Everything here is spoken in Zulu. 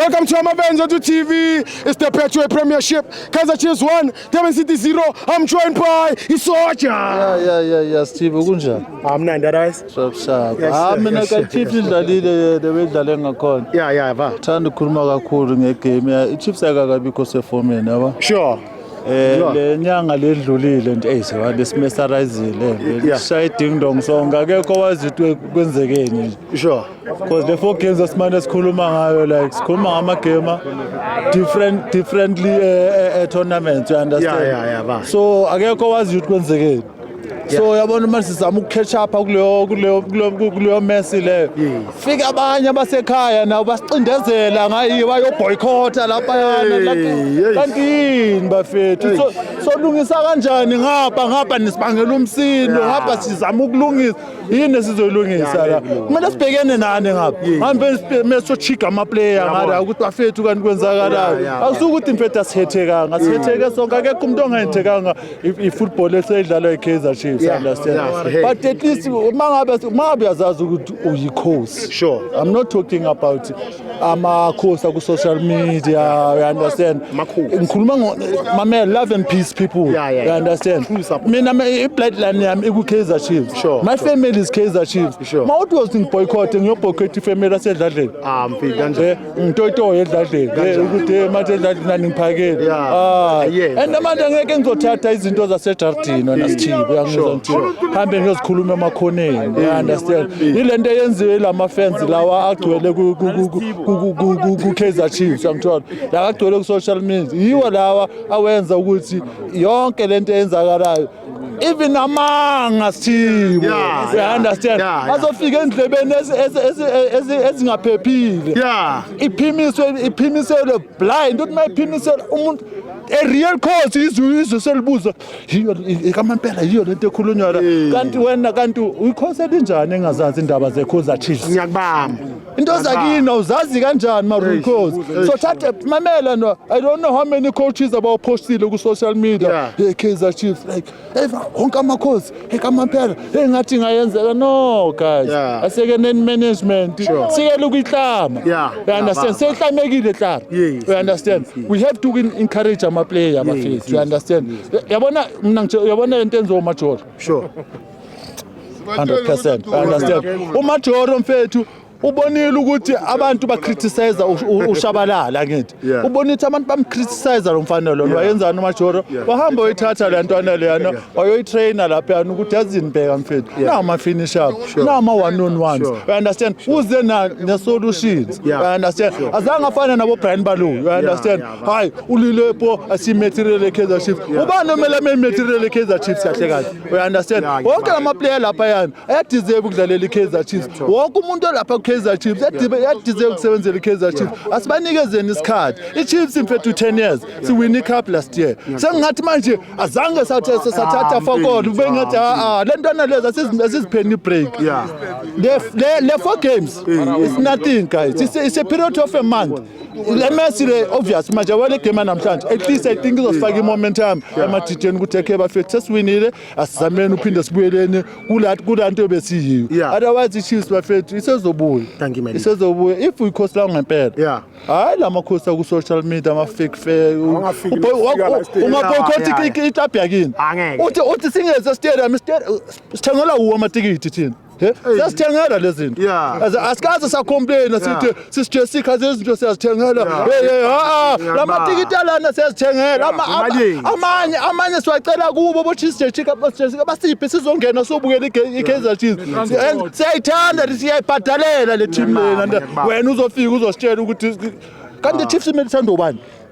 Welcome to Amabenzo to TV. It's the Betway Premiership. Kaizer Chiefs 1, Durban City 0. I'm joined by Isoja. Yeah, yeah, yeah, yeah. Steve kunjani? I'm nine that eyes. Sharp sharp. Yes, ah, mina yes, ka yes, Chiefs idlalile yena bedlale ngakhona. Yeah, yeah, va. Thanda ukukhuluma kakhulu ngegame. I Chiefs akakabikho sefomeni, yabo. Sure. Eh le nyanga ledlulile nje hey sewa lesimessarizile lishaya idingdong sonke akekho wazi ukuthi kwenzekeni nje. Sure. Because the four games asimane sikhuluma ngayo like sikhuluma ngama game different differently uh, uh, tournaments you understand. Yeah, yeah, yeah, ba. So akekho wazi ukuthi kwenzekeni. so yabona uma sizama ukukhetha apha kuleyo kuleyo kuleyo mesi leyo fika abanye abasekhaya nabo basicindezela ngayiyo bayoboycotha laphayana kantini bafethu so solungisa kanjani ngapha ngapha nisibangela umsindo ngapha sizama ukulungisa yini esizoyilungisa la kumele sibhekene nani ngapha ngambe mesochiga amaplayer ngala ukuthi bafethu kanti kwenzakalayo akusukuthi mfethu asihethekanga sihetheke sonke akekho umuntu ongahethekanga if if football esedlalwa iKaizer Chiefs yeah, understand yes, hey. but at least mangabe mangabe yazazi ukuthi uyikhosi sure i'm not talking about amakhosi aku social media you understand ngikhuluma ngo mamela love and peace people yeah, yeah, you understand mina i bloodline yami iku Kaizer Chiefs sure, my sure. family is Kaizer Chiefs sure. mawuthi was boycott ngiyo boycott family asedladleni ah mfika kanje eh? ngitoyitoye edladleni eh, ukuthi eh, manje edladleni aningiphakele ah, and manje angeke ngizothatha izinto zasedardini wena sithibe uyangizwa ngithi hambe ngiyozikhuluma emakhoneni you understand ile nto eyenziwe ila mafensi lawa agcwele ku-kaizer chiefs yangithola la agcwele ku-social media yiwo lawa awenza ukuthi yonke le nto eyenzakalayo even amanga sithibo yeah, yeah, understand yeah, yeah. azofika endlebeni ezingaphephile yeah. iphimiswe iphimiselwe blind uthi mayiphimiselwe umuntu a real cause izwe izwe selibuza yiyo kamampela yiyo lento ekhulunywa la kanti wena kanti uyikhosi elinjani engazazi indaba zekhoza chiefs ngiyakubamba into zakini awuzazi kanjani maroon cos so thathe mamela no i don't know how many coaches abawuphostile ku-social media Yeah. hey kaizer chiefs like hey wonke amakhosi hey kamaphela hey ngathi ngayenzeka no guys Yeah. asekeneni management Sure. sikele ukuyihlama Yeah. you understand Yeah, seyihlamekile hlala Yes, you understand we have to win- encourage amaplayer bafethu you understand yabona mna ngitsho- yabona into enziwa umajola sure 100% I understand umajoro mfethu ubonile ukuthi abantu bacriticize ushabalala ngithi ubona ukuthi abantu bamcriticize lo mfana lona wayenzani umajoro wahamba oyithatha le ntwana leyana wayoyitraina laphayana ukuthi yazini bheka mfethu nawo ama-finish up nawo ama-one on ones u understand uze ne-solutions u understand azange afane nabo-brian baloyi u understand hayi ulilepo asimetirele kaizer chiefs ubani omele amemetirele kaizer chiefs kahle kahle uyaunderstand wonke la maplayer lapha yani ayadeserve ukudlalela ikaizer chiefs wonke umuntu olapha kukaizer chiefs ayadeserve ukusebenzela ikaizer chiefs asibanikezeni isikhathi ichiefs mfethu 10 years siwine icup last year sengingathi manje azange sathatha fakona kube ngathi aa le ntwana lezi asizipheni ibreak le four games is nothing guys it's a period of a month le mesi le obvious manje wale game yanamhlanje at least i think izosifaka i-momentum emadideni ukuthi ekhe bafethu sesiwinile asizameni uphinde sibuyeleni kula nto besiyiyo Yeah. otherwise i-chiefs bafethu isezobuya Thank you, my leader. isezobuya if uyikhosi lawo ngempela Yeah. hhayi la makhosi aku-social media ama-fake fair Awungafiki Uboy- nokufika la wa- stadium. ungaboycott Yeah, yeah, iklabhu yakini Angeke. uthi uthi singeze stadium stadium- sithengelwa wuwo amatikiti thina siyazithengela lezi zinto Yeah. As- asikaze sacomplaina sithi Yeah. sisijesika zezinto siyazithengela Yeah. Hey, hey, ha-a. la Ngiyabona. matikiti alana siyazithengela Ama- ama- Imalini. amanye amanye siwacela kubo boshisijejika basijesika basiphe sizongena sobukela ige- i-kaizer chiefs And siyayithanda le- siyayibhadalela le team lena Ngiyabona, ngiyabona. wena uzofika uzositshela ukuthi kanti i-chiefs imele ithanda ubani